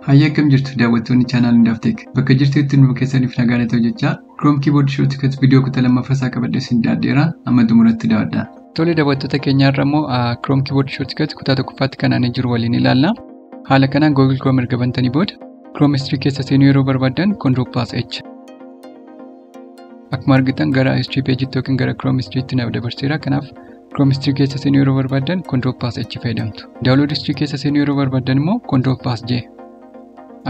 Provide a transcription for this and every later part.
Hayyee akkam jirtu daawwattoonni chaanaal hundaaf teek bakka jirtutti nu keessaniif nagaan haa ta'u jechaa Chrome Keyboard Shortcut viidiyoo kutaa lammaffaa isaa qabadhee isin dhiyaadheera amma xumuratti daawwadhaa. Tole daawwattoota keenyaa irra immoo Chrome Keyboard Shortcut kutaa tokkoffaatti kan aanee jiru waliin ilaalla. Haala kanaan Google Chrome erga bantanii booda Chrome History keessa seenuu yeroo barbaaddan Control Plus H Akkuma argitan gara history page tti yookiin gara Chrome history tti naaf dabarseera. Kanaaf Chrome history keessa seenuu yeroo barbaaddan control pass H fayyadamtu. Download history keessa seenuu yeroo barbaaddan immoo control pass J.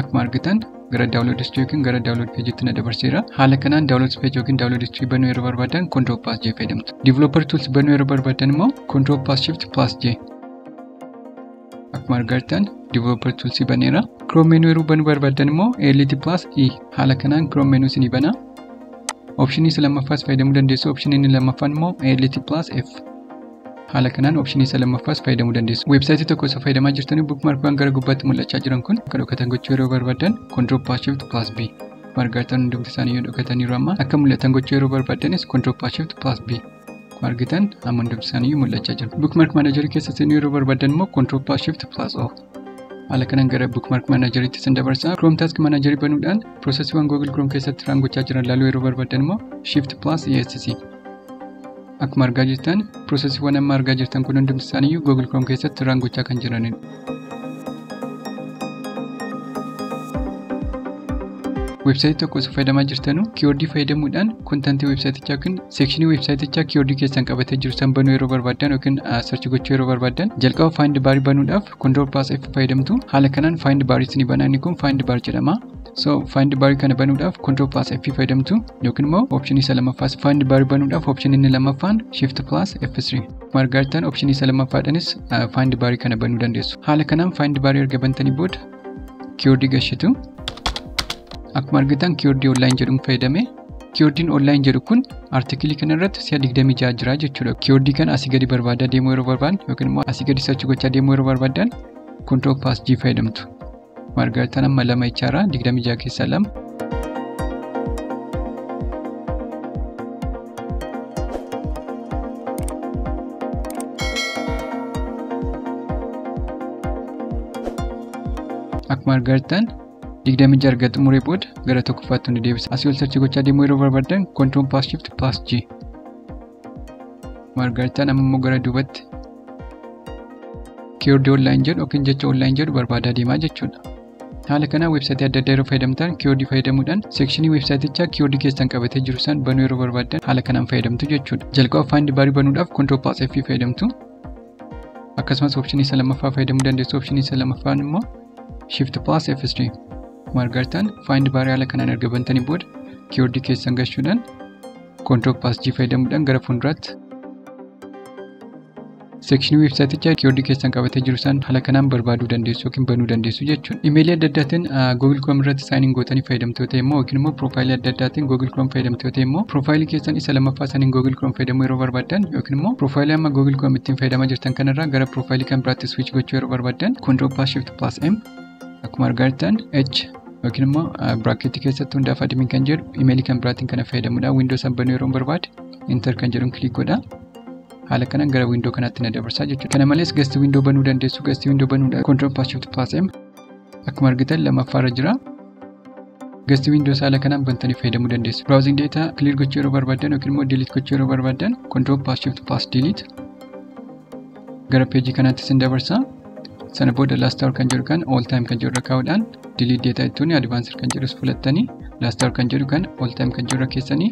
Akkuma argitan gara download history yookiin gara download page tti na dabarseera. Haala kanaan download page yookiin download history banuu yeroo barbaaddan control pass J fayyadamtu. Developer tools banuu yeroo barbaaddan immoo control pass shift pass J. Akkuma argartan developer tools baneera. Chrome menu yeroo banuu barbaaddan immoo ALT plus E haala kanaan Chrome menu isinii bana. Option isa lammaffaas fayyadamuu dandeessu. Option inni lammaffaan immoo ALT plus F. Haala kanaan option isa lammaffaas fayyadamuu dandeessu. Weebsaayitii tokko osoo fayyadamaa jirtanii bookmarkwan gara gubbaatti mul'achaa jiran kun akka dhokatan gochuu yeroo barbaaddan control plus shift plus B. Margartan hundumti isaanii yoo dhokataniiru amma akka mul'atan gochuu yeroo barbaaddanis control plus shift plus B. Akkuma argitan amma hundumti isaanii mul'achaa jiru. Bookmark Manager keessa seenuu yeroo barbaadan immoo Control Plus Shift Plus O. Haala kanaan gara Bookmark Manager itti sin dabarsa. Chrome Task Manager banuudhaan piroosesiiwwan Google Chrome keessatti raawwachaa jiran ilaaluu yeroo barbaadan immoo Shift Plus ESC. Akkuma argaa jirtan piroosesiiwwan amma argaa jirtan kun hundumti isaanii Google Chrome keessatti raawwachaa kan jiranidha. website tokko osoo fayyadamaa jirtanu kiiwordii fayyadamuudhaan kontantii websaayitichaa yookiin seekshinii websaayitichaa kiiwordii keessan qabatee jiru san banuu yeroo barbaaddan yookiin sarchi gochuu yeroo barbaaddan jalqaba faayind baarii banuudhaaf kondoor paas f fayyadamtu haala kanaan faayind baarii isinii banaa inni kun faayind baar jedhama so faayind baarii kana banuudhaaf kondoor paas f fayyadamtu yookiin immoo opshinii isa lammaffaa faayind baarii banuudhaaf opshinii inni lammaffaan shift plus f3 margaartaan option isa lammaffaadhanis find baarii kana banuu dandeessu haala kanaan find baarii erga bantanii booda kiiwordii gashitu akkuma argitan kiiwordii online jedhuun fayyadame kiiwordiin online jedhu kun artikilii kana irratti si'a 26 jira jechuudha kiiwordii kana asii gadi barbaadaa deemuu yeroo barbaadan yookiin immoo asii gadi sachuu gochaa deemuu yeroo barbaadan control pass g fayyadamtu Maal argattan amma lama jechaadha. Digdamii ja'a keessaa lama. Akkuma argattan digdamii ja'a erga xumuree booda gara tokkoffaatti nu deebisa. Asii ol sarchii gochaa deemuu yeroo barbaadan control pass shift pass g. margartaan amma immoo gara duubatti kiiwordii online jedhu yookiin jecha online jedhu barbaadaa deemaa jechuudha. Haala kanaan weebsaayitii adda addaa yeroo fayyadamtan kiiwordii fayyadamuudhaan seekshinii weebsaayitichaa kiiwordii keessan qabatee jiru san banuu yeroo barbaaddan haala kanaan fayyadamtu jechuudha. Jalqaba faayindi baarii banuudhaaf control plus F fayyadamtu. Akkasumas opshinii isa lammaffaa fayyadamuu dandeessu opshinii isa lammaffaan immoo shift plus F3 margartaan faayindi baarii haala kanaan erga bantanii booda kiiwordii keessan galchuudhaan Control Pass G fayyadamuudhaan gara fuulduraatti seekshinii weebsaayitichaa kiiwordii keessan qabatee jiru san haala kanaan barbaaduu dandeessu yookiin banuu dandeessu jechuudha. Imeelii adda addaatiin Google Chrome irratti saayiniin gootanii fayyadamtoo ta'e immoo yookiin immoo piroofaayilii adda addaatiin Google Chrome fayyadamtoo ta'e immoo piroofaayilii keessan isa lammaffaa saniin Google Chrome fayyadamuu yeroo barbaaddan yookiin immoo piroofaayilii amma Google Chrome ittiin fayyadamaa jirtan kanarraa gara piroofaayilii kan biraatti switch gochuu yeroo barbaaddan Control Pass Shift Pass M Akkuma argaa jirtan H yookiin immoo biraaketii keessatti hundaaf admin kan jedhu imeelii kan biraatiin kana fayyadamudha. Windows banuu yeroo barbaade enter kan jedhuun kiliik godha. Haala kanaan gara windoo kanaatti na dabarsaa jechuudha. Kana malees gasti windoo banuu dandeessu. Gasti windoo banuudha. Control pass shift pass m akkuma argitan lammaffaa irra jira. Gasti windoo haala kanaan bantanii fayyadamuu dandeessu. Browsing data clear gochuu yeroo barbaadan yookiin immoo delete gochuu yeroo barbaadan control pass shift pass delete gara peejii kanaatti sin dabarsa. Sana booda last hour kan jedhu kan all time kan jedhu irra kaa'uudhaan delete data jechuun advanced kan jedhus filattanii last hour kan jedhu kan all time kan jedhu irra keessanii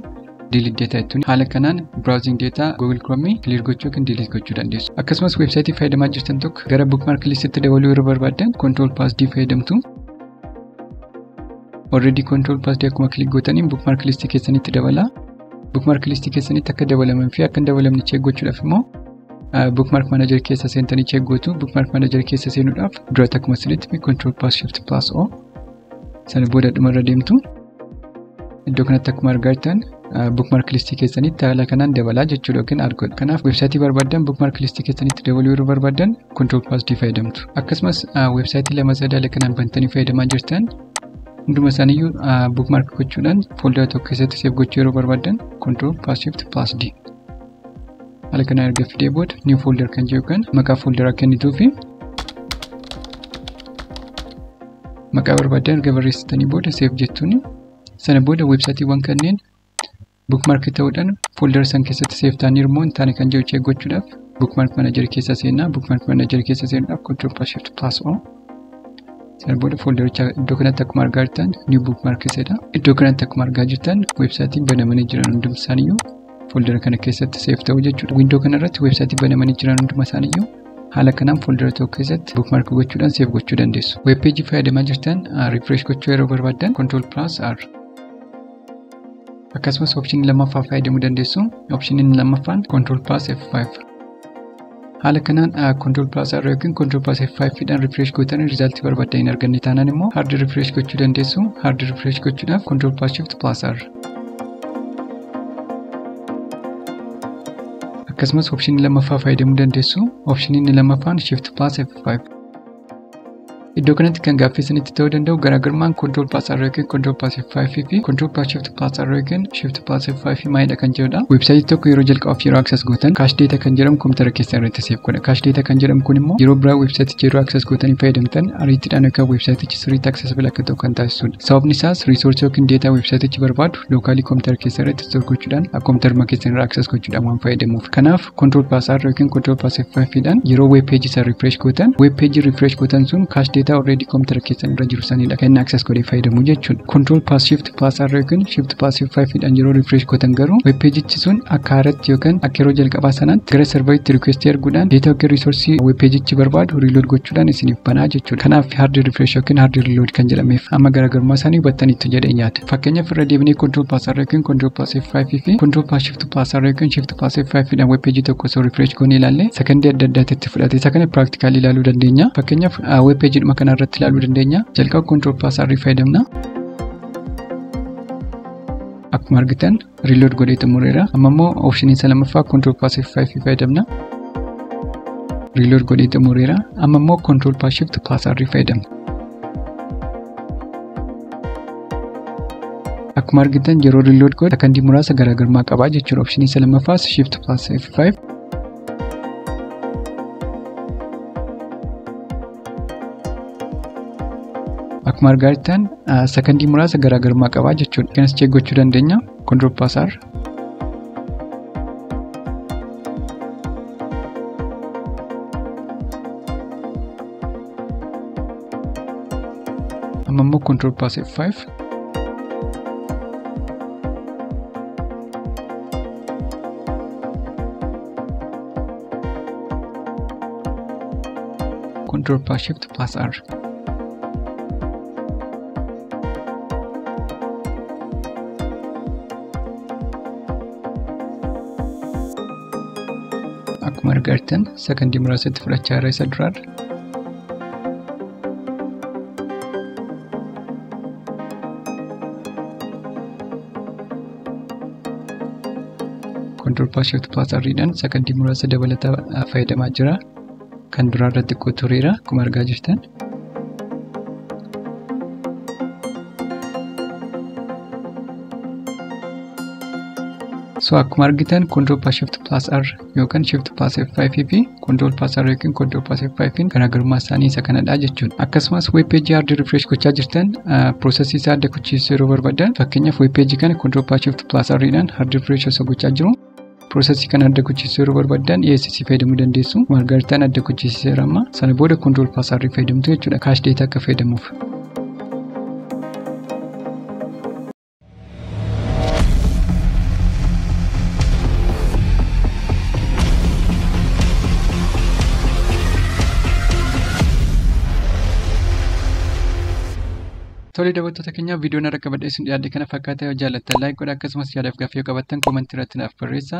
delete data jechuun haala kanaan browsing data google chrome clear gochuu yookiin delete gochuu dandeessu. Akkasumas websaayitii fayyadamaa jirtan tokko gara bookmark listitti dabaluu irra barbaaddan control plus d fayyadamtu. Already control plus d akkuma click gootaniin bookmark listii keessanitti dabala. Bookmark listii keessanitti akka dabalamanii fi akka hin dabalamne check gochuudhaaf immoo bookmark manager keessa seentanii check gootu bookmark manager keessa seenuudhaaf duratti akkuma sirriitti control plus shift plus o sana booda dhumarra deemtu iddoo kanatti akkuma argaa jirtan bookmark listii keessanitti haala kanaan dabalaa jechuudha yookiin argoodha. Kanaaf weebsaayitii barbaadan bookmark listii keessanitti dabaluu yeroo barbaadan control plus d fayyadamtu. Akkasumas weebsaayitii lama sadaala kanaan bantanii fayyadamaa jirtan hunduma isaaniiyyuu bookmark gochuudhaan fooldara tokko keessatti seef gochuu yeroo barbaadan control plus shift plus d. haala kanaan erga fidee booda new folder kan jiru kan maqaa folderaa kennituu fi maqaa barbaadan erga barreessitanii booda seef jettuun sana booda weebsaayitiiwwan kanneen bookmark ta'uudhaan folder san keessatti seef ta'anii immoo hin taane kan jiru cheek gochuudhaaf bookmark manager keessa seenaa bookmark manager keessa seenuudhaaf control plus shift plus o sana booda foldericha iddoo kanatti akkuma argaa jirtan new bookmark jedha iddoo kanatti akkuma argaa jirtan weebsaayitiin banamanii jiran hundumsaaniyyuu Fooldara kana keessatti seef ta'u jechuudha. Windoo kana irratti weebsaayitii banamanii jiran hunduma isaaniiyyuu haala kanaan fooldara tokko keessatti bookmaark gochuudhaan seef gochuu dandeessu. Weeb peejii fayyadamaa jirtan riifreesh gochuu yeroo barbaaddan control plus r. Akkasumas opshinii lammaffaa fayyadamuu dandeessu. Opshiniin lammaffaan control plus f5. Haala kanaan control plus R yookiin control plus F5 dhaan refresh gootanii result barbaaddan hin arganne taanaan immoo hard refresh gochuu dandeessu. Hard refresh gochuudhaaf control plus shift plus R. Akkasumas option lammaffaa fayyadamuu dandeessu. Option inni lammaffaan shift plus F5. Iddoo kanatti kan gaaffii isinitti ta'uu danda'u garaagarummaan control pass arrow yookiin control pass F5 fi control pass shift pass arrow yookiin shift pass F5 maalidha kan jedhudha. Websaayitii tokko yeroo jalqabaaf yeroo access gootan cache data kan jedhamu kompiitara keessan irratti save godha. Cache data kan jedhamu kun immoo yeroo biraa websaayiticha yeroo access gootanii fayyadamtan ariitiidhaan akka websaayitichi sirriitti accessible akka ta'u kan taasisudha. Sababni isaas resource yookiin data websaayitichi barbaadu lookaalii kompiitara keessan irratti store gochuudhaan kompiitaruma keessan irraa access gochuudhaan waan fayyadamuuf. Kanaaf Control plus R yookiin Control plus F5 dhaan yeroo web page isa refresh gootan web page refresh gootan sun cache data already computer keessan irra jiru sanidha kan inni access godhee fayyadamu jechuudha. Control plus Shift plus R yookiin Shift plus F5 dhaan yeroo refresh gootan garuu web page ichi sun akka haaratti yookiin akka yeroo jalqabaa sanaatti gara serveritti request erguudhaan data yookiin resource web page ichi barbaadu reload gochuudhaan isiniif banaa jechuudha. Kanaaf hard refresh yookiin hard reload kan jedhameef amma garaagarummaa isaanii hubattaniittu jedhee yaada. Fakkeenyaaf irra deebinee Control plus R yookiin Control plus F5 fi Control plus Shift plus R yookiin Shift Passive 5 dhaan web page tokko osoo refresh goonee ilaalle sakandii adda addaatti itti fudhate isa kana practically ilaaluu dandeenya. Fakkeenyaaf web page dhuma kana irratti ilaaluu dandeenya. Jalqaba control plus R fayyadamna. Akkuma argitan reload godhee xumureera. Amma immoo option isa lammaffaa control plus F5 fayyadamna. Reload godhee xumureera. Amma immoo control plus shift plus R fayyadamna. Akkuma argitan yeroo reload godhu sakandii muraasa garaagarummaa qaba jechuudha. Option isa lammaffaas shift plus F5. Akkuma argaa jirtan sakandii muraasa garaagarummaa qaba jechuudha. Kanas check gochuu dandeenya. Control plus R. Amma immoo control pass F5. Control pass shift pass R. Akkuma argitan sakandii muraasatti fudhachaa irra isa duraarra. Control Pass Shift Pass Arriidhaan sakandii muraasa dabalataa fayyadamaa jira. Kan duraa irratti xiqqoo tureera akkuma argaa jirtan. So akkuma argitan Control Pass Shift Pass R yookaan shift pass F5 fi control pass R yookiin control pass F5 garaagarummaa isaanii isa kanadha jechuudha. Akkasumas web page hard refresh gochaa jirtan processii isaa adda kuchiisuu yeroo barbaadan fakkeenyaaf web page kana control pass shift pass R dhaan hard refresh osoo gochaa jiru processii kana adda kuchiisuu yeroo barbaadan ESC fayyadamuu dandeessu. Margaaritaan adda kuchiiseera amma sana booda control pass R fayyadamtu jechuudha. Cache data akka fayyadamuuf. Tole daawwattoota keenya viidiyoon har'a qabadhee isin dhiyaadhe kana fakkaata yoo jaallattan laayik godha akkasumas yaadaaf gaaffii yoo qabaattan koomantii irratti naaf barreessa.